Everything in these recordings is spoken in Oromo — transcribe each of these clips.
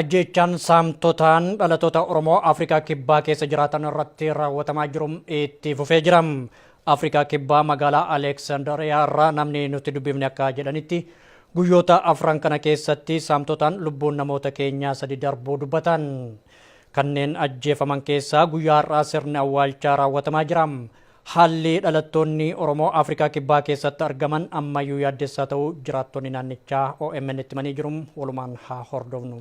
Ajjeechaan saamtotaan dhalatoota Oromoo Afrikaa Kibbaa keessa jiraatan irratti raawwatamaa jiru itti fufee jira. Afrikaa Kibbaa magaalaa Aleeksandariyaa irraa namni nuti dubbifne akka jedhanitti guyyoota afran kana keessatti saamtotaan lubbuun namoota keenyaa sadi darbuu dubbatan. Kanneen ajjeefaman keessaa guyyaa har'aa sirni awwaalchaa raawwatamaa jira. Haalli dhalattoonni Oromoo Afrikaa Kibbaa keessatti argaman ammayyuu yaaddessaa ta'uu jiraattonni naannichaa OMN'tti himanii jiru. Walumaan haa hordofnu.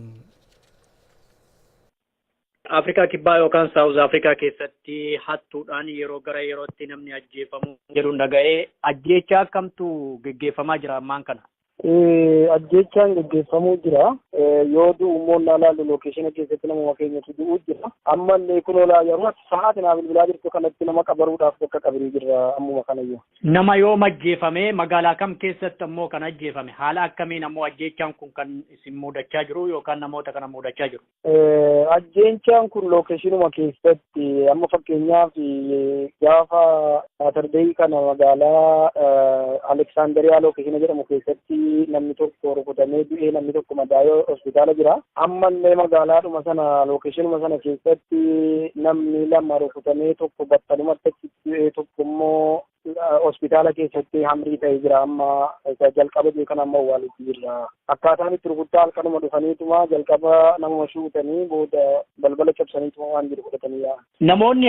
Afrikaa Kibbaa yookaan Saawuz Afrikaa keessatti hattuudhaan yeroo gara yerootti namni ajjeefamu jedhuun dhaga'ee ajjeechaa akkamtu geggeeffamaa jira ammaan kana. Ajjeechaan gaggeeffamuu jira. Yoo du'u immoo naa laallu lookeeshina keessatti namuma keenyatu du'uu jira. Amma illee kunoo laa yeroo sa'aati naa bilbilaa jirtu kanatti nama qabaruudhaaf bakka qabrii jirra ammuma kanayyu. Nama yoom ajjeefame? Magaalaa kam keessatti ammoo kan ajjeefame? Haala akkamiin ammoo ajjeechaan kun kan isin muudachaa jiru yookaan namoota kana muudachaa jiru? Ajjeechaan kun lookeeshinuma keessatti amma fakkeenyaaf gaafa saatardeeyi kana magaalaa Aleksaandariyaa lookeeshina jedhamu keessatti namni tokko rukutamee du'ee namni tokko madaa'ee hospitaala jira. Ammallee magaalaadhuma sana lookeeshinuma sana keessatti namni lama rukutamee tokko battalumatti achitti du'ee tokko immoo hospitaala keessatti hamrii ta'ee jira amma isa jalqaba jee kan amma awwaalutti jirra akkaataan itti rukuttaa halkanuma dhufaniituma jalqaba namuma shuutanii booda balbala cabsaniituma waan jiru fudhatanii yaa'an. Namoonni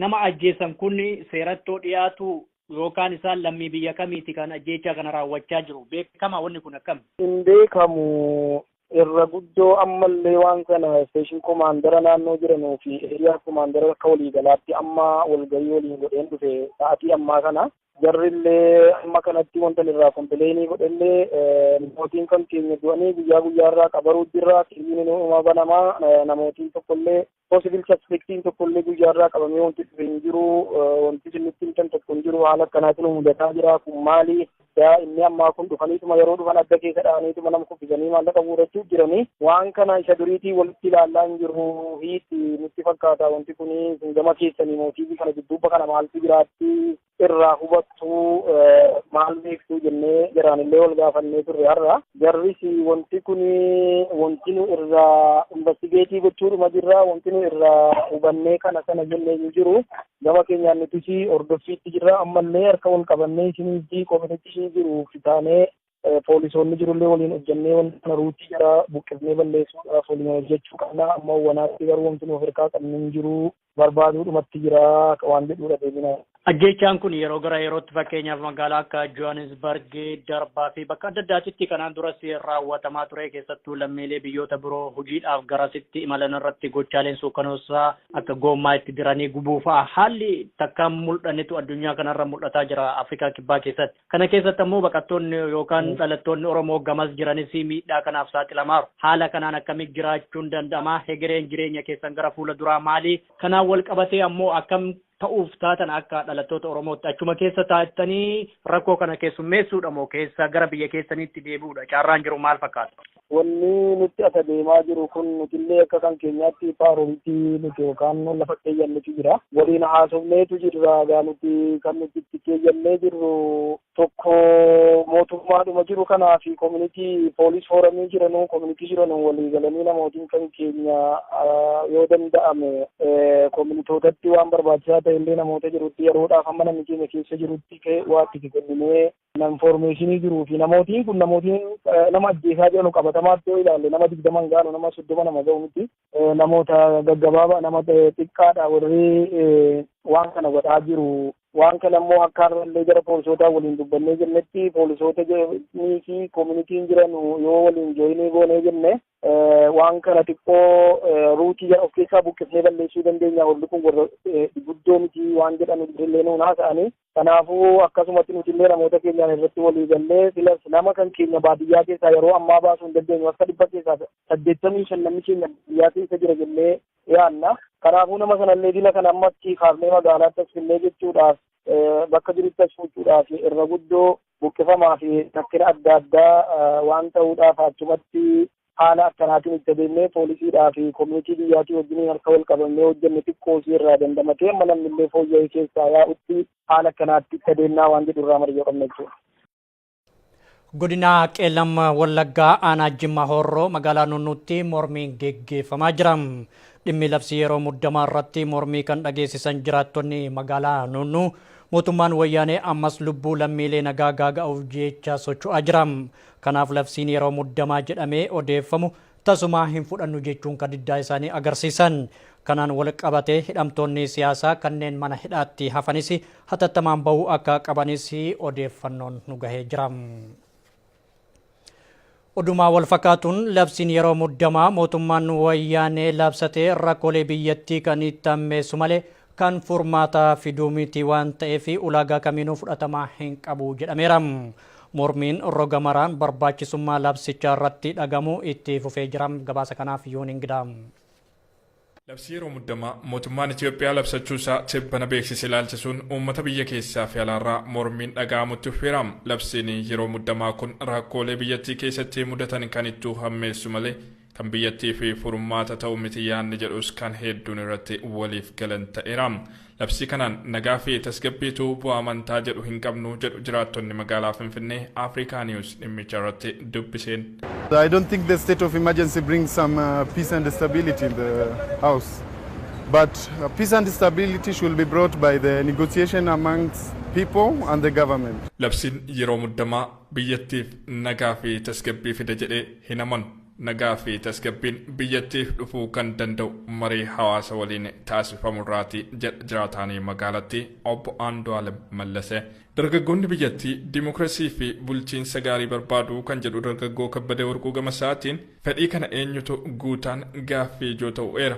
nama ajjeesan kun seerattoo dhiyaatu yookaan isaan lammii biyya kamiiti kan ajjeechaa kana raawwachaa jiru beekama wanni kun akkam? Hin beekamu Irra guddoo ammallee waan kana Station Komaandara naannoo jiranuu fi Area Komaandara akka walii galaatti amma walgahii waliin godheen dhufe sa'atii ammaa kana. Jarrillee amma kanatti wanta irraa kompileeyinii godhellee namootiin kan keenya du'anii guyyaa guyyaa irraa qabaruu jirra. Kiriin inuma banamaa namootiin tokkollee possible suspectiin tokko illee guyyaa irraa qabamee wanti dhufe hin jiru wanti isin nutti himtan tokko hin jiru haala akkanaatiin nu mudataa jira kun maali daa inni ammaa kun dhufaniituma yeroo dhufan adda keessa dha'aniituma nama kuffisanii maallaqa guurachuu jiranii waan kana isa duriitii walitti ilaallaa hin jiru hiiti nutti fakkaata wanti kun gama keessanii mootiifi kana dudduuba kana maaltu jiraatti irraa hubattuu maal beektuu jennee jaraanillee wal gaafannee turre har'a. Jarris wanti kun wanti nu irraa investigeetii gochuudhuma jirra wanti nu irraa hubannee kana sana jennee hin jiru. Gama keenyaan nutis hordoffiitti jirra ammallee harka wal qabannee isinitti komitichi jiru fitaanee Poolisoonni jirullee waliin hojjannee wanta kana ruutii jara buqqifnee balleessuudhaaf waliin hojjechuu qabna. Amma wanaatti garuu wanti nu of harkaa qabnu hin jiru. Barbaaduudhumatti jira waan jedhuudha deebina. Ajjeechaan kun yeroo gara yerootti fakkeenyaaf magaalaa akka Johannesburg, Darbaa fi bakka adda addaatitti kanaan duras raawwatamaa ture. Keessattuu lammiilee biyyoota biroo hojiidhaaf garasitti imalan irratti gochaaleen suukanoosaa akka goommaa itti diranii gubuu fa'a haalli takkaan mul'annetu addunyaa kanarra mul'ataa jira Afrikaa Kibbaa keessatti. Kana keessatti ammoo baqattoonni yookaan dhalattoonni Oromoo gamas jiranis miidhaa kanaaf saaxilamaaru. Haala kanaan akkamitti jiraachuun danda'ama? Hegereen jireenya keessan gara fuula duraa maali? Kanaan wal qabatee ammoo akkam ta'uuf taatan akka dhalattoota Oromootti achuma keessa taattanii rakkoo kana keessummeessuudha moo keessa gara biyya keessaniitti deebi'uudha? Carraan jiru maal fakkaata? Wanni nutti asa deemaa jiru kun nutillee akka kan keenyaatti paaromti nuti yookaan lafa keeyyannetu jira. Waliin haasofneetu jirra. Egaa nuti kan nuti itti keeyyannee jirru tokko mootummaadhuma jiru kanaa fi koominitii poolis fooramii jiranuu koominitii jiranuu walii galanii namootiin kan keenya yoo danda'ame koominitootatti waan barbaachisaa ta'e illee namoota jirutti yeroodhaaf amma namni keenya keessa jirutti waatti kenninee Kana infoormeeshinii jiruu fi namootiin kun namootiin nama ajjeesaa jiranu qabatamaatti yoo ilaalle nama digdama hin gaanu nama soddoma nama ga'u miti. Namoota gaggabaabaa nama xiqqaadha warri waan kana godhaa jiru. Waan kana immoo akka har'allee gara poolisootaa waliin dubbannee jennetti poolisoota jiranii fi koominitiin jiran yoo waliin jooyinii goonee jenne waan kana xiqqoo ruutii of keessaa buqqifnee balleessuu dandeenya warri kun warra guddoo miti waan jedhan illee nuun haasa'anii Kanaafuu akkasumatti nuti illee namoota keenyaan irratti walii gallee silas nama kan keenya baadiyyaa keessaa yeroo ammaa baasuu hin dandeenyu harka dhibba keessaa saddeettamii shan namni keenya baadiyyaa keessa jira jennee yaadna. Kanaafuu nama sana illee dila kana amma achii kaafnee magaalaatti as finnee jechuudhaaf bakka jirutti as fuuchuudhaaf irra guddoo buqqifamaa fi rakkina adda addaa waan ta'uudhaaf achumatti Haala akkanaatiin itti adeemnee poolisiidhaa fi komunitii biyyaatii wajjiniin harka wal qabannee hojjenne xiqqoo isii irraa dandamatee amma namni illee fooyya'ee keessaa yaa'utti haala akkanaatti itti adeemnaa waan jedhu irraa mari'oo qabna jechuudha. Godina Qeellam Wallaggaa aanaa Jimma Horroo magaalaa Nunnuutti mormiin geggeeffamaa jira. Dhimmi labsii yeroo muddamaa irratti mormii kan dhageessisan jiraattonni magaalaa Nunnuu mootummaan wayyaanee ammas lubbuu lammiilee nagaa gaaga'uuf jecha socho'aa jira. Kanaaf labsiin yeroo muddamaa jedhamee odeeffamu tasumaa hin fudhannu jechuun ka diddaa isaanii agarsiisan. Kanaan wal qabatee hidhamtoonni siyaasaa kanneen mana hidhaatti hafanis hatattamaan bahuu akka qabanis odeeffannoon nu gahee jira. Odumaa wal fakkaatuun labsiin yeroo muddamaa mootummaan wayyaanee labsatee rakkoolee biyyattii kan itti hammeessu malee kan furmaata fiduu miti waan ta'eef ulaagaa kamiinuu fudhatama hin qabu jedhameera. Mormiin roga maraan barbaachisummaa labsichaa irratti dhagamu itti fufee jira. Gabaasa kanaaf Yoon Ingidaa. Labsii yeroo muddamaa mootummaan Itoophiyaa labsachuu isaa tibbana beeksise ilaalchisuun uummata biyya keessaa fi alaarraa mormiin dhaga'amutti fufeera. Labsiin yeroo muddamaa kun rakkoolee biyyattii keessatti mudatan kan ittuu hammeessu malee Kan biyyattiif furmaata ta'u miti yaadni jedhus kan hedduun irratti waliif galan ta'eera. Labsii kanaan nagaa fi tasgabbiitu bu'a amantaa jedhu hin qabnu jedhu jiraattonni magaalaa Finfinnee Africa News dhimmicha irratti dubbiseen. I don't think the state of emergency brings some uh, peace and stability in the house. But uh, peace and stability should be brought by the negotiation amongst people and the government. Labsiin yeroo muddamaa biyyattiif nagaa fi tasgabbii fida jedhee hin amanu. Nagaa fi tasgabbiin biyyattiif dhufuu kan danda'u marii hawaasa waliin taasifamu irraati jedha jiraataanii magaalattii obbo Andu'aalem Mallasee. Dargaggoonni biyyattii dimokirasii fi bulchiinsa gaarii barbaadu kan jedhu dargaggoo Kabbadee Warquu gama isaatiin fedhii kana eenyutu guutaan gaaffii ijoo ta'u eera.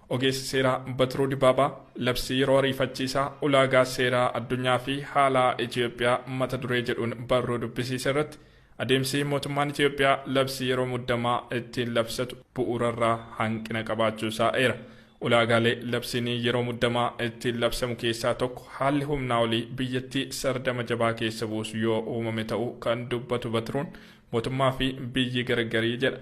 Ogeessi seeraa Batiruu Dibaabaa labsii yeroo ariifachiisaa ulaagaa seeraa addunyaa fi haalaa Itiyoophiyaa mata duree jedhuun barruu dubbisiise irratti adeemsi mootummaan Itiyoophiyaa labsii yeroo muddamaa ittiin labsatu bu'uurarraa hanqina qabaachuusaa eera. Ulaagaalee labsiin yeroo muddamaa ittiin labsamu keessaa tokko haalli humnaa olii biyyattii sardama jabaa keessa buusu yoo uumame ta'uu kan dubbatu Batiruun, mootummaa fi biyyi gargari jedha.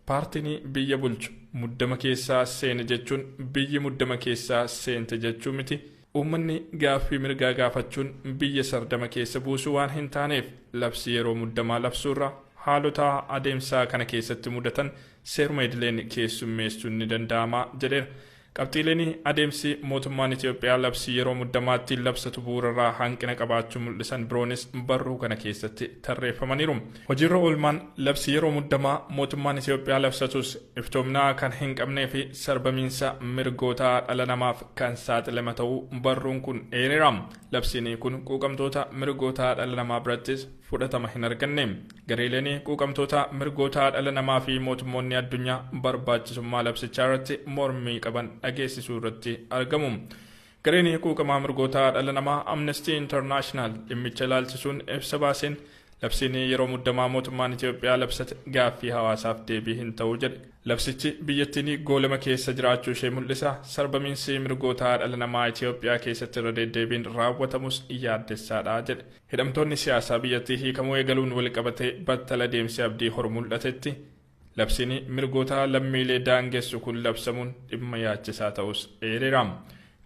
Paartini biyya bulchu muddama keessaa seene jechuun biyyi muddama keessaa seente jechuu miti. Uummanni gaaffii mirgaa gaafachuun biyya sardama keessa buusuu waan hin taaneef labsii yeroo muddamaa labsuurra haalotaa adeemsaa kana keessatti mudatan seeruma idileen keessummeessuun ni danda'ama jedheera. Qabxiileen adeemsi mootummaan Itoophiyaa labsii yeroo muddamaa ittiin labsatu bu'uurarraa hanqina qabaachuu mul'isan biroonis barruu kana keessatti tarreeffamaniiru. Hojiirra oolmaan labsii yeroo muddamaa mootummaan Itoophiyaa labsatus iftoomina kan hinqabneefi sarbamiinsa mirgoota dhala namaaf kan saaxilema ta'uu barruun kun eereera. Labsiin kun quuqamtoota mirgoota dhala namaa birattis fudhatama hinarganne. Gareeleen quuqamtootaa mirgoota dhala namaa fi mootummoonni addunyaa barbaachisummaa labsichaa irratti mormii qaban dhageessisuu irratti argamu. Gareen quuqamaa mirgoota dhala namaa Amnestii Intarnaashinaal dhimmicha ilaalchisuun ibsa baaseen labsiin yeroo muddamaa mootummaan Itoophiyaa labsate gaaffii hawaasaaf deebii hin ta'u jedhe. Labsichi biyyattiin goolama keessa jiraachuu ishee mul'isa, sarbamiinsi mirgoota dhala namaa Itoophiyaa keessatti irra deeddeebiin raawwatamus yaaddessaadha jedhe. Hidhamtoonni siyaasaa biyyattii hiikamuu eegaluun walqabatee battala deemsi abdii horu mul'atetti labsiin mirgoota lammiilee daangessu kun labsamuun dhimma yaachisaa ta'uus eereera.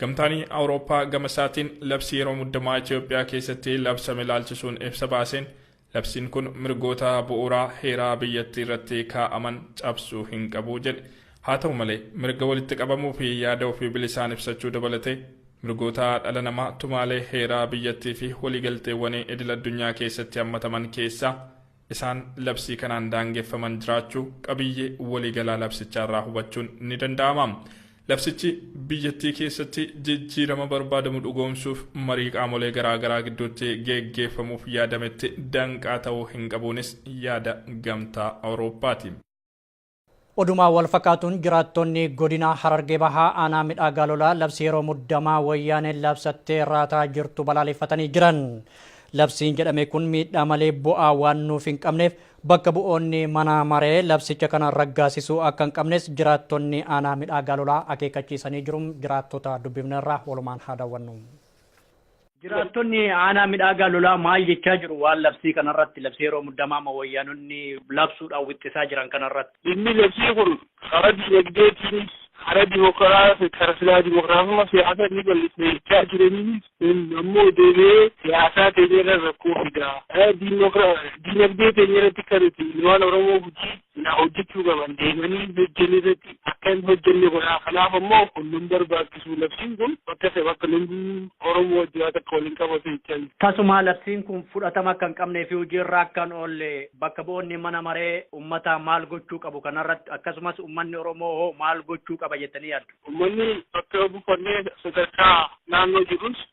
Gamtaan Awurooppaa gama isaatiin labsii yeroo muddamaa Itoophiyaa keessatti labsame ilaalchisuun ibsa baaseen labsiin kun mirgoota bu'uuraa heeraa biyyattii irratti kaa'aman cabsuu hin qabu jedhe. Haa ta'u malee, mirga walitti qabamuu fi yaada ofii bilisaan ibsachuu dabalatee, mirgoota dhala namaa tumaalee heeraa biyyattii fi waliigalteewwanii idil-addunyaa keessatti hammataman keessaa isaan labsii kanaan daangeffaman jiraachuu qabiyyee waliigalaa labsichaa irraa hubachuun ni danda'ama. Labsichi biyyattii keessatti jijjiirama barbaadamu dhugoomsuuf marii qaamolee garaa garaa gidduutti geggeeffamuuf yaadametti danqaa ta'uu hin qabuunis yaada Gamtaa Awurooppaati. Oduma walfakaatuun jiraattonni godina Harargee Bahaa aanaa Midhaa Gaalolaa labsii yeroo muddamaa Wayyaaneen labsattee raataa jirtu balaaleffatanii jiran. Labsiin jedhame kun miidhaa malee bu'aa waan nuuf hin qabneef bakka bu'oonni mana maree labsicha kana raggaasisuu akka hin qabnes jiraattonni aanaa Midhaa Gaalolaa akeekkachiisanii jiru. Jiraattota dubbifnerraa walumaan haa daawwannu. Jiraattonni aanaa Midhaagaa Lolaa maal jechaa jiru? Waan labsii kanarratti, labsii yeroo muddamaa amma wayyaanonni labsuudhaan wixxisaa jiran kanarratti. Dhimmi labsii kun karaa diinagdeetiinis, karaa dimokraas, karaa silaa dimokraasummaa siyaasaa ni bal'isna jechaa jiraniinis kun ammoo deebi'ee siyaasaa teenyarra rakkoo fida. Diinagdee teenyarratti kan nuti ilmaan Oromoo Gujii silaa hojjechuu qaban deemanii hin hojjenne irratti akka hin hojjenne godhaa kanaaf ammoo kun nun barbaachisu labsiin kun bakka isa bakka lubbuu oromoo wajji waa takka wal hin qabatu jechaa jira. Tasumaa labsiin kun fudhatama akka hin qabnee fi hojii irra akka hin oolle bakka bu'oonni mana maree ummataa maal gochuu qabu kanarratti akkasumas ummanni oromoo hoo maal gochuu qaba jettanii yaaddu? Ummanni bakka bufannee sadarkaa naannoo jirrus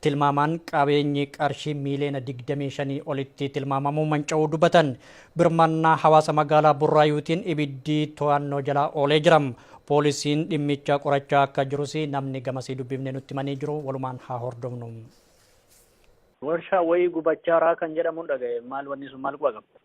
Tilmaamaan qabeenyi qarshii miiliyoona 25 olitti tilmaamamu manca'uu dubbatan. Birmannaa hawaasa magaalaa Burraayuutiin ibiddi to'annoo jala oolee jira. Poolisiin dhimmicha qorachaa akka jirus namni gamasii dubbifne nutti himanii jiru. Walumaan haa hordofnu. Warshaa wayii gubachaa raa kan jedhamun dhagahe maal wanni sun maal quba qaba.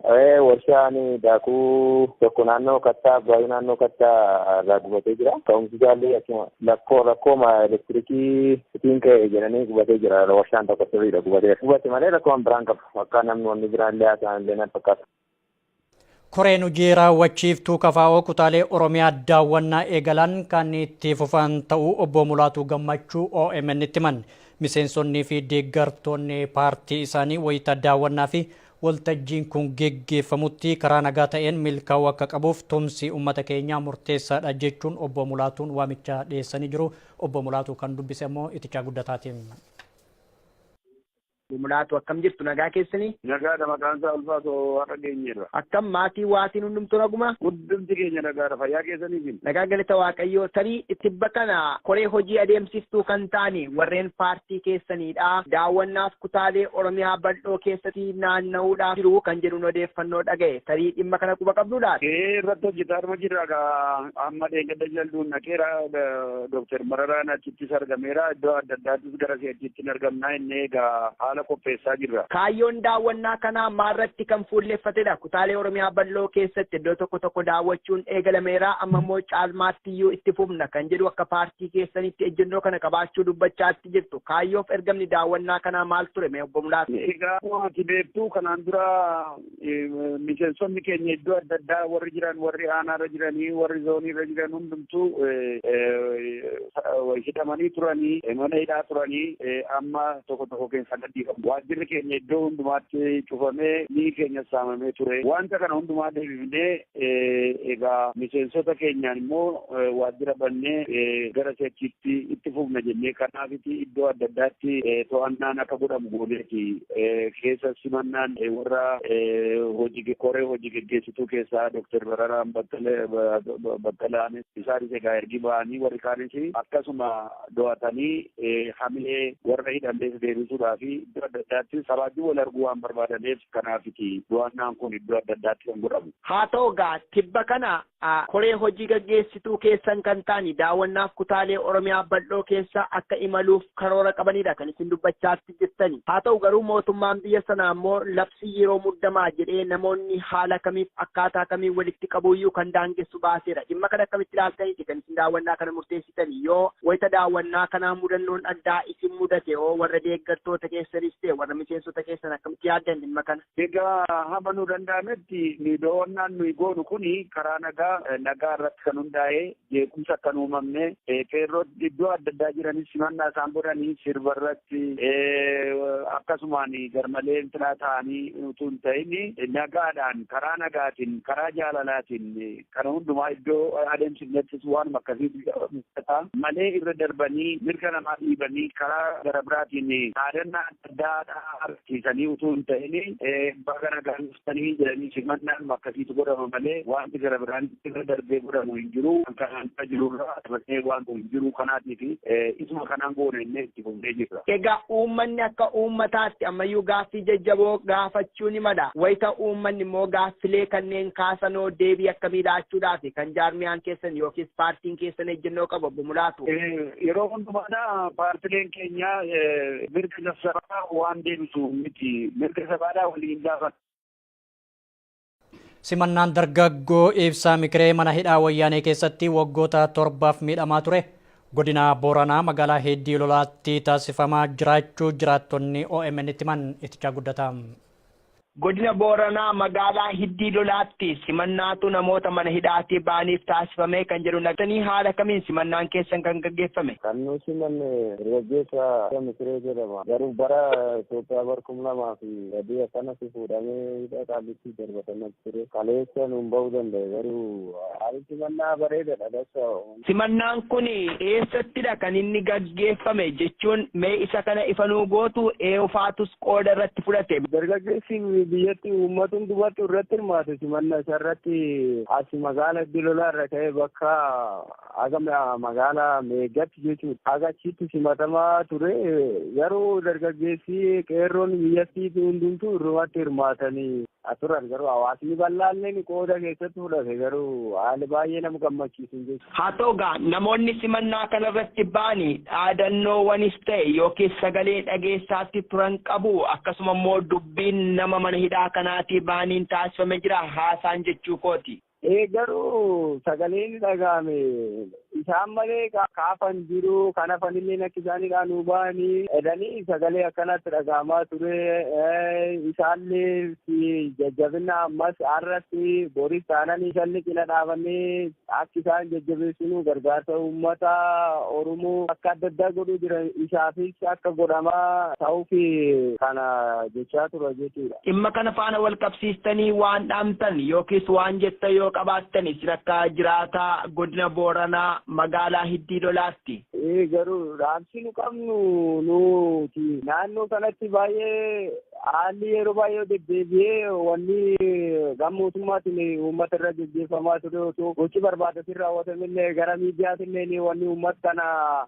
Warshaan daakuu tokko naannoo Kattaa Abbaayuu naannoo Kattaa irraa gubatee jira. Ka'umsi isaallee akkuma lakkoo rakkooma elektirikii itiin ka'e jedhanii gubatee jira. Warshaan tokko sirriidha gubatee. Gubate malee rakkoon biraan qabu. Akka namni wanni biraan illee haasa'an illee nan fakkaatu. Koreen hojii raawwachiiftuu kafaa'oo kutaalee Oromiyaa daawwannaa eegalan kan itti fufan ta'uu obbo Mulaatuu Gammachuu OMN'tti himan. Miseensonnii fi deeggartoonni paartii isaanii wayita daawwannaa fi Waltajjiin kun geggeeffamutti karaa nagaa ta'een milkaa'uu akka qabuuf tumsi ummata keenyaa murteessaadha jechuun Obbo Mulaatuun waamicha dhiyeessanii jiru. Obbo Mulaatuu kan dubbise ammoo Itichaa Guddataati. Obbo Mulaatuu akkam jirtu nagaa keessanii? Nagaadha maqaan isaa Ulfaatoo har'a geenyeerra. Akkam maatii waatiin hundumtuu naguma? Hundumti keenya nagaadha fayyaa keessaniifi? Nagaan galata waaqayyoo tarii tibba kana koree hojii adeemsiftuu kan taane warreen paartii keessaniidha daawwannaaf kutaalee oromiyaa bal'oo keessati naanna'uudhaaf jiru kan jedhuun odeeffannoo dhaga'e tarii dhimma kana quba qabduu laata? Ee irratti hojjetaaruma jirra gaa amma dheengadda jalduun dhaqeera Dooktar Mararaan achittis argameera iddoo adda addaattis gara si'achiitti hin argamnaa inni egaa haala qopheessaa jirra. Kaayyoon daawwannaa kanaa maalratti kan fuulleffatedha? kutaalee Oromiyaa bal'oo keessatti iddoo tokko tokko daawwachuun eegalameera amma immoo caalmaattiyyuu itti fufna kan jedhu akka paartii keessanitti ejjennoo kana qabaachuu dubbachaatti jirtu kaayyoof ergamni daawwannaa kanaa maal ture mee obbo Mulaatu? Egaa ati beektu kanaan dura miseensonni keenya iddoo adda addaa warri jiran warri aanaarra jiranii warri zooniirra jiran hundumtuu hidhamanii turanii mana hidhaa turanii amma tokko tokko keessa Waajjirri keenya iddoo hundumaatti cufamee mi'i keenyas saamamee ture. Wanta kana hundumaa deebifnee egaa miseensota keenyaan immoo waajjira bannee gara si'achiitti itti fufna jennee kanaafiti iddoo adda addaatti to'annaan akka godhamu gooneeti. Keessa simannaan warra hojii koree hojii geggeessituu keessaa Dooktar Bararaan Baqqalaanis isaanis egaa ergi ba'anii warri kaanis akkasuma do'atanii hamilee warra hidhallees deebisuudhaa fi iddoo adda addaatti sabaajuu wal arguu waan barbaadaneef kanaafiti do'annaan kun iddoo adda addaatti kan godhamu. Haa ta'u egaa tibba kana koree hojii gaggeessituu keessan kan ta'ani daawwannaaf kutaalee Oromiyaa bal'oo keessa akka imaluuf karoora qabanidha kan isin dubbachaa hojjettani. Haa ta'u garuu mootummaan biyya sanaa immoo labsii yeroo muddamaa jedhee namoonni haala kamiif akkaataa kamiin walitti qabuuyyuu kan daangessu baaseera. Dhimma kana akkamitti ilaaltaniiti kan isin daawwannaa kana murteessitani? Yoo wayita daawwannaa kanaa mudannoon addaa isin mudate hoo warra deeggartoota keessanis ta'e warra miseensota keessan akkamitti yaaddan dhimma kana? Egaa hama nu danda'ametti nuyi dawannaan nuyi goonu kuni karaa nagaa nagaa irratti kan hundaa'ee jeequmsi akka hin uumamne qeerroon iddoo adda addaa jiranis simannaa isaan godhanii sirba irratti akkasumaan garmalee intinaa ta'anii utuu hin ta'in nagaadhaan karaa nagaatiin karaa jaalalaatiin kana hundumaa iddoo adeemsifnettis waanuma akkasiitu mul'ata malee irra darbanii mirga namaa dhiibanii karaa gara biraatiin dhaadannaa addaadha argisiisanii utuu hin ta'in baga nagaan dhuftanii jedhanii simannaan akkasiitu godhama malee wanti gara biraan irra darbee godhamu hin jiru kan kanaan irra jirurra dabarsee waan hin jiru kanaatiif isuma kanaan goone innee itti fufnee jirra. Egaa uummanni akka uummataatti ammayyuu gaaffii jajjaboo gaafachuu ni mala. Wayita uummanni immoo gaaffilee kanneen kaasanoo deebii akkamii laachuudhaaf kan jaarmiyaan keessan yookiis paartiin keessan ejjennoo qabu obbo Mulaatu. Yeroo hundumaadha paartileen keenya mirga sabaa waan deebisu miti mirga sabaadhaa waliin gaafa. Simannaan dargaggoo ibsaa mikiree mana hidhaa wayyaanee keessatti waggoota torbaaf miidhamaa ture godina Booranaa magaalaa Heeddii Lolaatti taasifamaa jiraachuu jiraattonni OMN itti himan itichaa guddataa. Godina Booranaa magaalaa Hiddii Lolaatti simannaatu namoota mana hidhaatii ba'aniif taasifame kan jedhu naqtanii haala kamiin simannaan keessan kan gaggeeffame? Kan nu simanne dargaggeessa Misiree jedhama. Garuu bara Itoophiyaa bara 2003 akkanatti fuudhamee hidha Qaallittii darbatame ture. Kaleessa nuun ba'uu danda'e garuu haalli simannaa bareedadha. Simannaan kun eessattidha kan inni gaggeeffame? jechuun mee isa kana ifa nuu gootu? Eewufaatus qooda irratti fudhate. Dargaggeessi biyyatti uummata hundumatu irratti hirmaate simanna isa irratti as magaala Iddoo Lolaa irra ka'ee bakka haga magaala Meeggatti jechuudha. Haga achitti simatamaa ture garuu dargaggeessi qeerroon biyyattii hundumtuu irrumatti hirmaatanii. a turan garuu hawaasni bal'aalleen qooda keessatti fudhate garuu haali baay'ee nama gammachiisun jechuudha. Haa ta'u gaa namoonni simannaa kanarratti ba'ani dhaadannoowanis ta'e yookiis sagalee dhageessaatti turan qabu akkasuma immoo dubbiin nama mana hidhaa kanaatii ba'aniin taasifame jira haasaan jechuu kooti. Ee garuu sagaleen dhaga'ame isaan malee kaafan jiru kan hafanillee akka isaanidha nu ba'anii jedhanii sagalee akkanatti dhaga'amaa ture isaallee jajjabina ammas har'atti boris taananii isaan cina dhaabannee akka isaan jajjabeessinu gargaarsa uummata Oromoo akka adda addaa godhuu jiran isaafis akka godhamaa ta'uuf kana gochaa ture jechuudha. Dhimma kana faana walqabsiistanii waan dhaamtan yookiis waan jettan yoo qabaattan isin akka jiraataa Godina Booranaa Magaalaa Hiddii Lolaatti. Ee garuu dhaamsi nu qabnu nuti naannoo kanatti baay'ee haalli yeroo baay'ee deddeebi'ee wanni gam mootummaatiin uummata irra gaggeeffamaa ture osoo gochi barbaadatiin raawwatamillee gara miidiyaatillee wanni uummata kana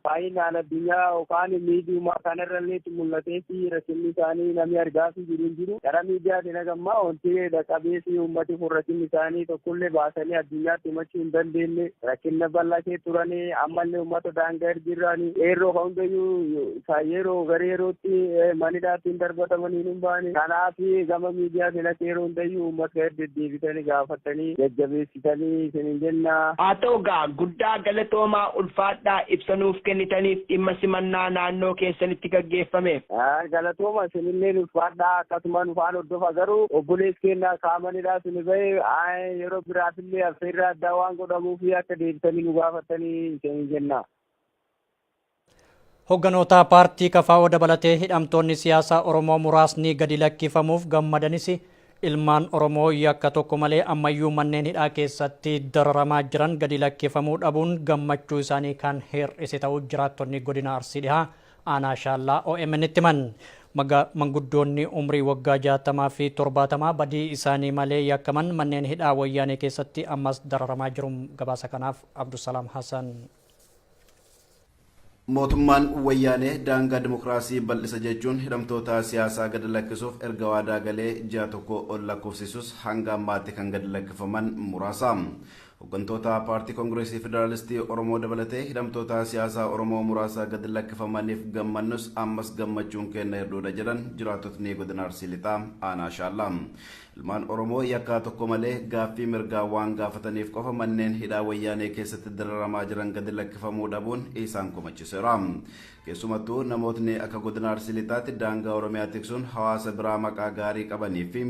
baay'inaan addunyaa yookaan miidiyumaa kanarrallee mul'ateefi rakkinni isaanii namni argaafii jiru hin jiru. Karaa miidiyaatiin haga ammaa wanti dhaqqabeefi uummati kun rakkinni isaanii tokkollee baasanii addunyaatti himachuu hin dandeenye. Rakkinna bal'aa kee turani ammallee uummata daangaa irra jirani. Qeerroo kan hundayyuu ka yeroo gara yerootti manidhaatti hin darbatamanii hin baane. Kanaaf gama miidiyaatiin akka yeroo hundayyuu uummata irra deddeebitanii gaafatanii jajjabeessi. Isanii isiniin jennaa. Haa ta'u egaa, guddaa galatoomaa, ulfaadhaa ibsa nuuf kennitaniif dhimma simannaa naannoo keessanitti gaggeeffame. Galatooma isinilleen ulfaadhaa akkasuma nu faan hordofa garuu obboleessi keenya kaamanidhaa suni bahe yeroo biraafillee affeerraa addaa waan godhamuuf akka deebitanii nu gaafattanii isiniin jenna. Hogganoota paartii KFO dabalatee hidhamtoonni siyaasaa Oromoo muraasni gadi lakkifamuuf gammadanis ilmaan Oromoo yakka tokko malee ammayyuu manneen hidhaa keessatti dararamaa jiran gadi lakkifamuu dhabuun gammachuu isaanii kan hir'ise ta'uu jiraattonni godina Arsii Dhihaa aanaa Shaallaa OMN'tti himan. Manguddoonni umrii waggaa 60 fi 70 badii isaanii malee yakkaman manneen hidhaa wayyaanee keessatti ammas dararamaa jiru. Gabaasa kanaaf Abdusalaam Hasan. Mootummaan Wayyaanee daangaa dimokiraasii bal'isa jechuun hidhamtoota siyaasaa gad lakkisuuf erga waadaa galee ji'a tokko ol lakkoofsisus hanga ammaatti kan gad lakkifaman muraasa. Hoggantoota Paartii Kongireesii Federaalistii Oromoo dabalatee hidhamtoota siyaasaa Oromoo muraasa gad lakkifamaniif gammannus ammas gammachuun keenna hir'uudha jedhan jiraattotni Godina Arsii Lixaa Aanaa Shaallaa. Ilmaan Oromoo yakkaa tokko malee gaaffii mirgaa waan gaafataniif qofa manneen hidhaa Wayyaanee keessatti dararamaa jiran gadi lakkifamuu dhabuun isaan komachiseera. Keessumattuu namootni akka Godina Arsii Lixaatti daangaa Oromiyaa tiksuun hawaasa biraa maqaa gaarii qabanii fi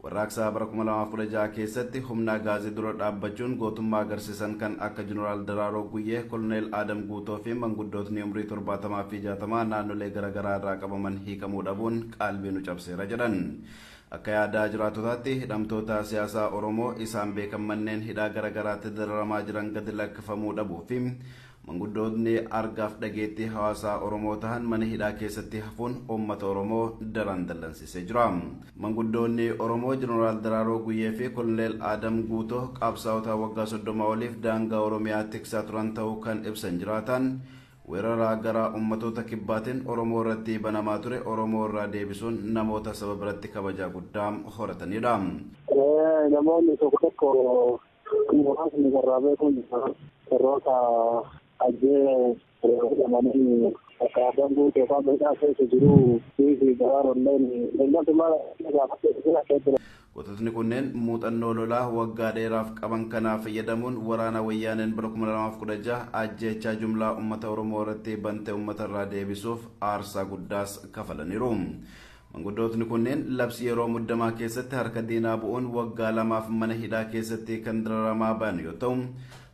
warraaqsa bara 2016 keessatti humna Agaazii dura dhaabbachuun gootummaa agarsiisan kan akka Jeneraal Daraaroo Guyyee, Koloneel Aadam Guutoo fi manguddootni umrii 70 fi 60 naannolee garagaraa irraa qabaman hiikamuu dhabuun qaalbii nu cabseera jedhan. Akka yaada jiraatotaatti hidhamtoota siyaasaa Oromoo isaan beekan manneen hidhaa gara garaatti dararamaa jiran gadi lakkifamuu dhabuu fi manguddootni argaaf dhageettii hawaasaa Oromoo tahan mana hidhaa keessatti hafuun uummata Oromoo daran dallansiisee jira. Manguddoonni Oromoo Jeneraal Daraaroo Guyyee fi Koloneel Aadam Guutoo qaabsaa'ota waggaa soddoma oliif daangaa Oromiyaa tiksaa turan tahuu kan ibsan jiraataan, Weeraraa garaa ummatoota kibbaatiin Oromoo irratti banamaa ture Oromoo irraa deebisuun namoota saba biratti kabajaa guddaa horataniidha. Namoonni tokko tokko muraasni carraa beekuun warroota Ajjee jedhamanii bakka Abbaan Guutuu yookaan Miidhaa keessa jiru fi Daraarolleen ilma tumaa gaafachuu akka ture. Gototni kunneen muuxannoo lolaa waggaa dheeraaf qaban kanaa fayyadamuun waraana wayyaaneen bara 2016 ajjeechaa jumlaa ummata Oromoo irratti bante ummata irraa deebisuuf aarsaa guddaas kafalaniru. Manguddootni kunneen labsii yeroo muddamaa keessatti harka diinaa bu'uun waggaa lamaaf mana hidhaa keessatti kan dararamaa bayan yoo ta'u,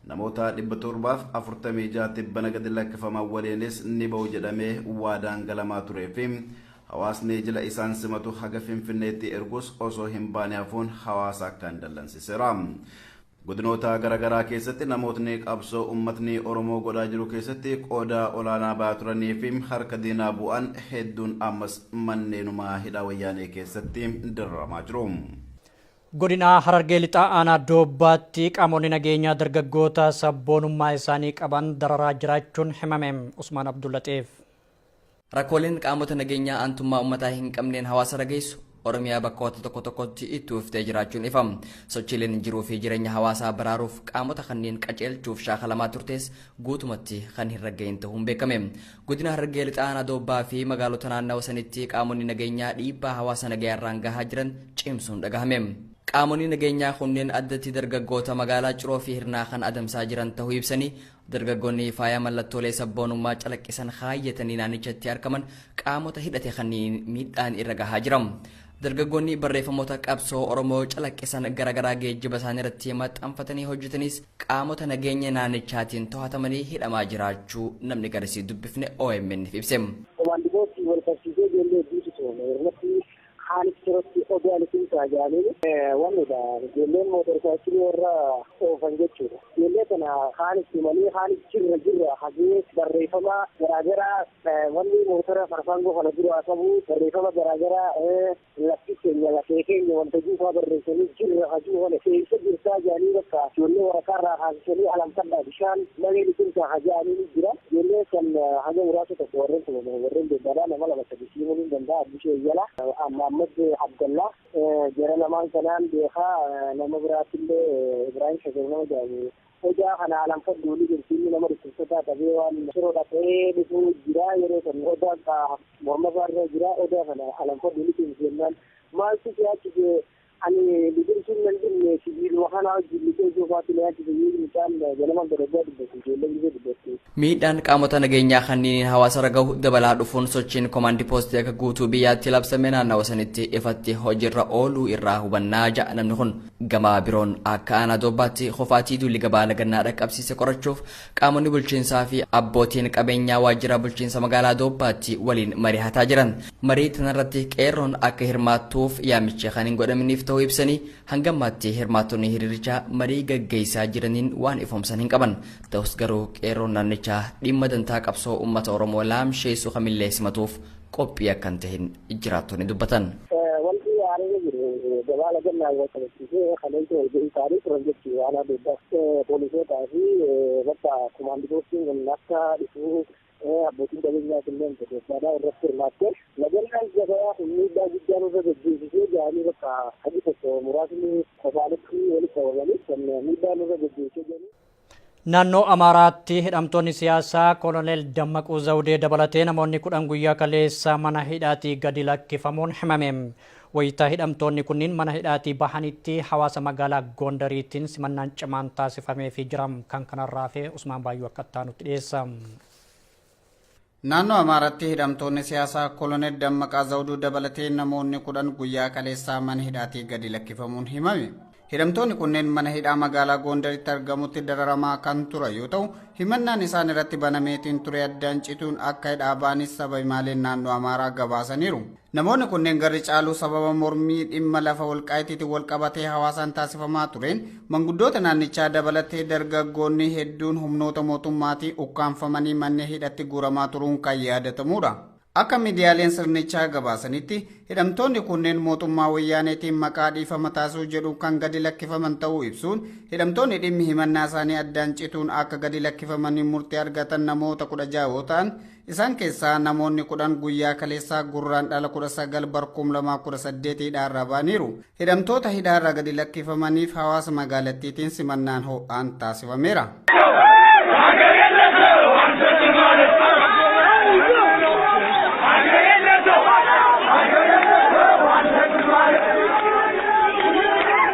namoota 746 tibbana gadi lakkifaman waliinis ni ba'u jedhamee waadaan galamaa turee fi Hawaasni jila isaan simatu haga Finfinneetti ergus osoo hin baane hafuun hawaasa akkaan dallansiseera. Godinoota gara garaa keessatti namootni qabsoo ummatni Oromoo godhaa jiru keessatti qooda olaanaa ba'aa turanii fi harka diinaa bu'an hedduun ammas manneenuma hidhaa Wayyaanee keessatti dararamaa jiru. Godina Harargee Lixaa Aanaa Doobbaatti qaamonni nageenyaa dargaggoota sabboonummaa isaanii qaban dararaa jiraachuun himame. Usmaan Abdullaxiif. Rakkooleen qaamota nageenyaa aantummaa ummataa hin qabneen hawaasarra geessu Oromiyaa bakkoota tokko tokkotti itti uwwiftee jiraachuun ifa. Sochiileen jiruu fi jireenya hawaasaa baraaruuf qaamota kanneen qajeelchuuf shaakalamaa turtees guutumatti kan hin ragga'in ta'uun beekame. Godina Harargee Lixaa Aanaa Doobbaa fi magaalota naannawa sanitti qaamonni nageenyaa dhiibbaa hawaasa nagayaarraan gahaa jiran cimsuun dhagahame. Qaamonni nageenyaa kunneen addatti dargaggoota magaalaa Ciroo fi Hirnaa kan adamsaa jiran ta'uu ibsanii Dargaggoonni faaya mallattoolee sabboonummaa calaqqisan kaayyatanii naannichatti argaman qaamota hidhate kanniin miidhaan irra gahaa jira. Dargaggoonni barreeffamoota qabsoo Oromoo calaqqisan garaagaraa geejjiba isaanii irratti maxxanfatanii hojjetanis qaamota nageenya naannichaatiin to'atamanii hidhamaa jiraachuu namni garisii dubbifne OMN'f ibse. Komaandi poostii wal qabsiisee ijoollee hedduutu to'ame. Irratti Kaanis jirutti oduu ani siin kaa jaaniin wannidha ijoolleen mootor saayikilii warra oofan jechuudha. Ijoollee kana kaanis tumanii kaanis jirra jirra hagee barreeffamaa garaa garaa wanni mootora farfaangoo kana duraa qabu barreeffama garaa garaa lafti keenya lafee keenya wanta juu faa barreessanii jirra hajuu kana eessa jirtaa jaanii bakka ijoollee waraqaa irraa kaasisanii alanfadhaa bishaan malee ni jirtaa ka jaaniin jira. Ijoollee kan haga muraasa tokko warren tumaman warren debbaadha nama lama sadi sii himun hin danda'a Abdishee Iyyala, Mahammad Abdalla jara lamaan kanaan beeka nama biraatillee Ibrahim Shagari nama jedhamu Odaa kana alanfadhu wly jirti inni nama dhukkubsataa qabee waan Shiroo dhaqee dhufuu jira yeroo san Odaa morma isaarra jira Odaa kana alanfadhu wly cimsi jennaan maaltu si harkise Ani biqiltuun nan dhimne sibiiluma kanaa wajjin lixee soofaatti na yaachise jedhu mucaan ganama garaggaa dubbatu ijoollee gizee dubbattu. Miidhaan qaamota nageenyaa kanniiniin hawaasarra gahu dabalaa dhufuun sochiin komaandi poostii akka guutuu biyyaatti labsame naannawa sanitti ifatti hojiirra ooluu irraa hubanna ja'a namni kun. Gama biroon akka aanaa Doobbaatti qofaatii duulli gabaa Lagannaa dhaqqabsiise qorachuuf Qaamonni bulchiinsaa fi abbootiin qabeenyaa waajjira bulchiinsa magaalaa Doobbaatti waliin marihataa jiran. Marii tanarratti qeerroon akka hirmaattuuf yaamichi kan hin godhaminiif ta'uu ibsanii hanga ammaatti hirmaattonni hiriirichaa marii gaggeessaa jiraniin waan ifoomsan hin qaban. Ta'us garuu qeerroon naannichaa dhimma dantaa qabsoo uummata Oromoo laamsheessu kamillee simatuuf qophii akka hin tahin jiraattonni dubbatan. Wanti haaraan jiru gabaa lagannaan wal qabachiisee kaleessa walga'ii taa'anii turan jechuun waan adeemsa poolisootaa fi bakka kumaandi poostiin kun akka dhufuu abbootiin qabeenyaa kunneen gaggeessaadhaa irratti hirmaattee lagannaan gabayaa kun miidhaa guddaa nurra gaggeessisee jedhanii bakka hagi tokko muraasni kophaanitti walitti qabamanii kan miidhaa nurra gaggeessee jedhanii. Naannoo Amaaraatti hidhamtoonni siyaasaa Koloneel Dammaquu Zawdee dabalatee namoonni kudhan guyyaa kaleessaa mana hidhaatii gadi lakkifamuun himame. Wayita hidhamtoonni kunniin mana hidhaatii bahanitti hawaasa magaalaa Gondariitiin simannaan cimaan taasifameefii jira. Kan kanarraa hafee Usmaan Baayyuu akka itti aanutti dhiyeessa. Naannoo Amaaraatti hidhamtoonni siyaasaa Kolonel Dammaqaa Zawduu dabalatee namoonni kudhan guyyaa kaleessaa mana hidhaatii gadi lakkifamuun himame. Hidhamtoonni kunneen mana hidhaa magaalaa Goondaritti argamutti dararamaa kan ture yoo ta'u, himannaan isaan irratti banameetiin ture addaan cituun akka hidhaa baanis saba himaaleen naannoo Amaaraa gabaasaniiru. Namoonni kunneen garri caaluu sababa mormii dhimma lafa Walqaayitiitiin walqabatee hawaasaan taasifamaa tureen manguddoota naannichaa dabalatee dargaggoonni hedduun humnoota mootummaatii ukkaamfamanii mannee hidhatti guuramaa turuun kan yaadatamuudha. Akka miidiyaaleen sirnichaa gabaasanitti, hidhamtoonni kunneen mootummaa Wayyaaneetiin maqaa dhiifama taasisuu jedhuun kan gadi lakkifaman ta'uu ibsuun, hidhamtoonni dhimmi himannaa isaanii addaan cituun akka gadi lakkifamanii murtii argatan namoota 16 yoo ta'an, Isaan keessaa namoonni kudhan guyyaa kaleessaa Gurraandhala 19 bar 2018 hidhaarraa ba'aniiru. Hidhamtoota hidhaarraa gadi lakkifamaniif hawaasa magaalattiitiin simannaan ho'aan taasifameera.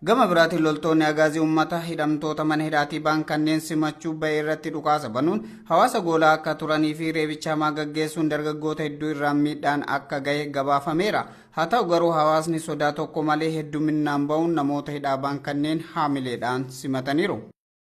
Gama biraatiin loltoonni Agaazii ummata hidhamtoota mana hidhaatii ba'an kanneen simachuu ba'e irratti dhukaasa banuun hawaasa goolaa akka turanii fi reebicha hamaa gaggeessuun dargaggoota hedduu irraan miidhaan akka gahe gabaafameera. Haa ta'u garuu hawaasni sodaa tokko malee hedduminnaan ba'uun namoota hidhaa ba'an kanneen haamileedhaan simataniiru.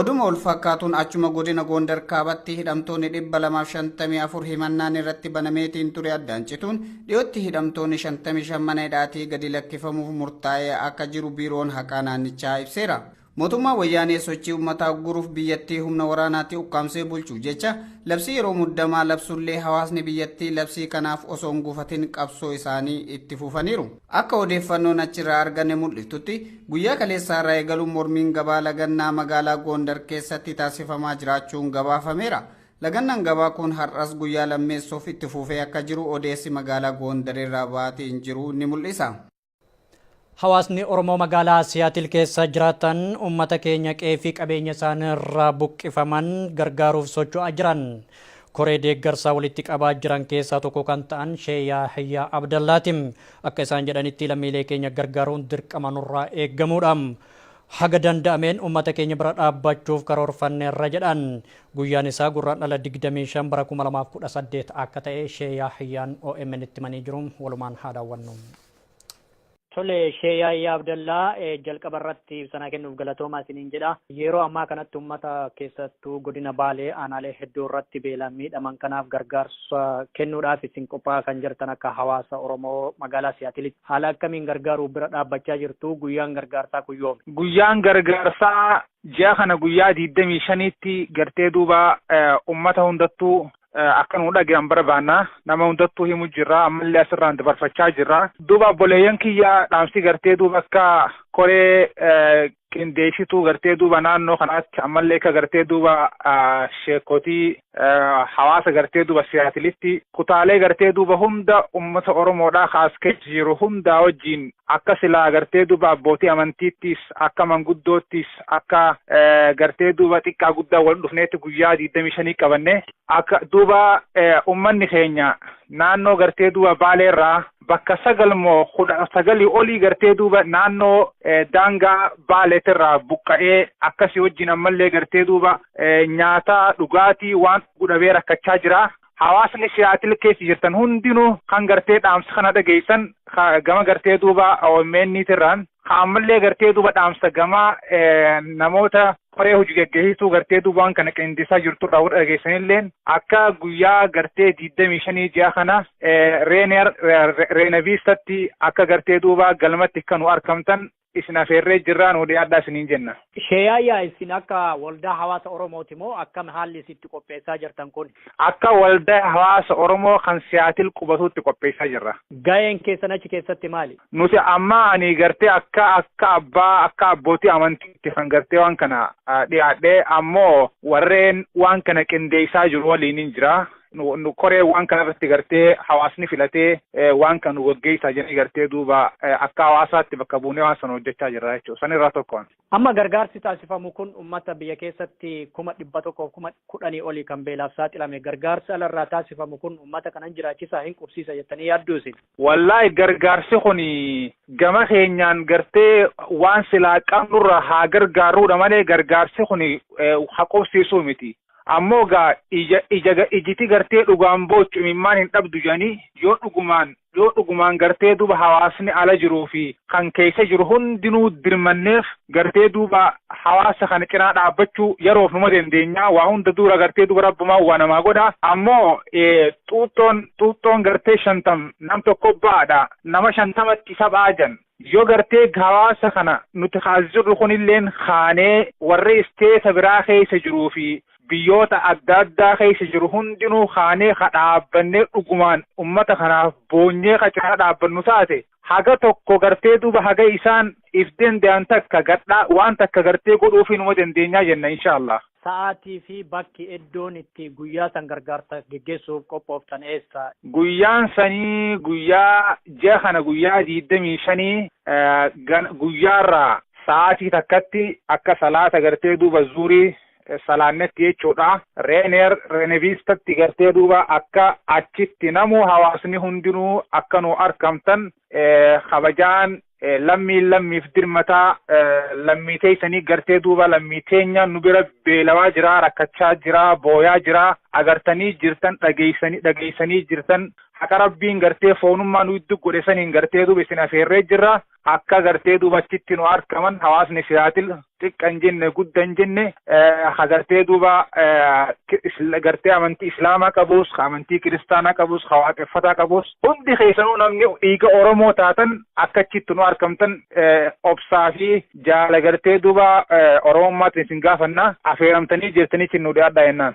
Oduma wal fakkaatuun achuma godina Goondar kaabatti hidhamtoonni 254 himannaan irratti banameetiin ture addaan cituun dhiyootti hidhamtoonni 55 mana hidhaatii gadi lakkifamuuf murtaa'ee akka jiru biiroon haqaa naannichaa ibseera. Mootummaan Wayyaanee sochii ummataa ugguruuf biyyattii humna waraanaatti ukkaamsee bulchuuf jecha labsii yeroo muddamaa labsullee hawaasni biyyattii labsii kanaaf osoo hin gufatin qabsoo isaanii itti fufaniiru. Akka odeeffannoon achirraa arganne mul'iftutti guyyaa kaleessaarraa eegaluun mormiin gabaa lagannaa magaalaa Goondar keessatti taasifamaa jiraachuun gabaafameera. Lagannaan gabaa kun har'as guyyaa lammeessoof itti fufee akka jiru odeessi magaalaa Goondarirraa ba'aatiin jiru ni mul'isa. Hawaasni Oromoo magaalaa Siyaatil keessa jiraatan uummata keenya qe'ee fi qabeenya isaanii irraa buqqifaman gargaaruuf socho'aa jiran. Koree deeggarsaa walitti qabaa jiran keessaa tokko kan ta'an Shee Yaahiyyaa Abdallaati. Akka isaan jedhanitti lammiilee keenya gargaaruun dirqama nurraa eegamuudha. Haga danda'ameen ummata keenya bira dhaabbachuuf karoorfanneerra jedhan. Guyyaan isaa Gurraandhala 25 bara 2018 akka ta'e Shee Yaahyaan OMNtti himanii jiru. Walumaan haa daawwannu. Tole, Shee Yaahyaa Abdallaa, jalqaba irratti ibsa naa kennuuf galatoomaa isiniin jedha. Yeroo ammaa kanatti ummata keessattuu godina Baalee aanaalee hedduu irratti beelaan miidhaman kanaaf gargaarsa kennuudhaaf isin qophaa'aa kan jirtan akka hawaasa Oromoo magaalaa Siyaatilitti. Haala akkamiin gargaaruuf bira dhaabbachaa jirtu? Guyyaan gargaarsaa kun yoomi? Guyyaan gargaarsaa ji'a kana guyyaa 25tti gartee duuba ummata hundattuu akka nu dhagahan barbaanna. Nama hundattuu himu jirra. Ammallee asirraan dabarfachaa jirra. Duuba obboleeyyan kiyya dhaamsi gartee duuba akka koree qindeessituu gartee duuba naannoo kanaatti ammallee akka gartee duuba sheekotii hawaasa gartee duuba siyaatilitti kutaalee gartee duuba hunda ummata Oromoodhaa kaas keessa jiru hundaa wajjiin akka silaa gartee duuba abbootii amantiittis akka manguddoottis akka gartee duuba xiqqaa guddaa wal dhufneetti guyyaa 25 qabanne akka duuba ummanni keenya naannoo gartee duuba baaleerraa bakka 9 moo 19 olii gartee duuba naannoo daangaa Baaleetirraa buqqa'ee akkasii wajjin ammallee gartee duuba nyaata dhugaatii waan dhugu dhabee rakkachaa jira. Hawaasni Siyaatil keessa jirtan hundinuu kan gartee dhaamsa kana dhageessan gama gartee duuba OMN tirraan Ka ammallee gartee duuba dhaamsa gamaa namoota koree hojii gaggeessituu gartee duuba waan kana qindeessaa jirtu irraa warra dhageessanilleen akka guyyaa gartee digdamii shanii ji'a kana Reeneer Reenaviistatti akka gartee duuba galmatti akka nu arkamtan isin afeerree jirraa nu dhiyaadhaa isiniin jenna. Sheeyaayyaa isin akka waldaa hawaasa Oromooti moo akkam haalli isin itti qopheessaa jirtan kun? Akka waldaa hawaasa Oromoo kan Siyaatil qubatuutti qopheessaa jirra. Gaheen keessan achi keessatti maali? Nuti amma ani gartee akka akka abbaa akka abbootii amantiitti kan gartee waan kana dhiyaadhe ammoo warreen waan kana qindeessaa jiru waliinin jira. Nu koree waan kana irratti gartee hawaasni filatee waan kana nu gaggeessaa jedhanii gartee duuba akka hawaasaatti bakka buunee waan sana hojjechaa jirra jechuudha. San irraa tokkoon. Amma gargaarsi taasifamu kun ummata biyya keessatti kuma dhibba tokkoof kuma kudhanii olii kan beelaaf saaxilame gargaarsi ala irraa taasifamu kun ummata kana hin jiraachisaa hin qubsiisa jettanii yaadduu isin? Wallaahi gargaarsi kun gama keenyaan gartee waan silaa qabnurraa haa gargaarruudha malee gargaarsi kun ha qubsiisuu miti. Ammoo gaa ija ija ijiti gartee dhugaan boochu imimmaan hin dhabdu jedhanii yoo dhugumaan yoo dhugumaan gartee duuba hawaasni ala jiruu fi kan keessa jiru hundinuu dirmanneef gartee duuba hawaasa kana cinaa dhaabbachuu yeroof numa dandeenyaa waa hunda duura gartee duuba rabbumaa waa namaa godha ammoo xuuxxoon xuuxxoon gartee shantam nam tokko ba'aadha nama shantamatti isa ba'aa jedhan Yoo gartee hawaasa kana nuti kaas jirru kunilleen kaanee warri isteeta biraa keessa jiruu fi biyyoota adda addaa keessa jiru hundinuu kaanee ka dhaabbannee dhugumaan ummata kanaaf boonyee ka cinaa dhaabbannu taate haga tokko gartee duuba haga isaan if danda'an takka gadhaa waan takka gartee godhuufii numa dandeenyaa jenna inshaa Allaah. Sa'aatii fi bakki, eddoon, itti guyyaa san gargaarsa geggeessu'uuf qophooftan eessa? Guyyaan sanii guyyaa, ji'a kana guyyaa diiddamii shanii gana, guyyaarraa. sa'aatii takkatti akka salaata gartee duuba zuhrii salaannetti jechuudha. Reeneer, Reneviistatti gartee duuba akka achitti namuu hawaasni hundinuu akka nuu arkamtan kabajaan Lammiin lammiif dirmataa, lammii teeysanii gartee duuba lammii teenya nu bira beelawaa jira, rakkachaa jira, booyaa jira, agartanii jirtan, dhageeysanii jirtan, haqa Rabbiin gartee foonummaa nu iddu godhe saniin gartee duuba isin afeerree jirra, akka gartee duuba achitti nu arkaman hawaasni Seattle xiqqa hin jenne gudda hin jenne ha gartee duuba gartee amantii islaamaa qabus ha amantii kiristaanaa qabus ha waaqeffataa qabus hundi keessanuu namni dhiiga oromoo taatan akkachitti nu arkamtan obsaa fi jaala gartee duuba oromummaatiin isin gaafanna afeeramtanii jirtanii isin nu dhiyaadhaa jennaan.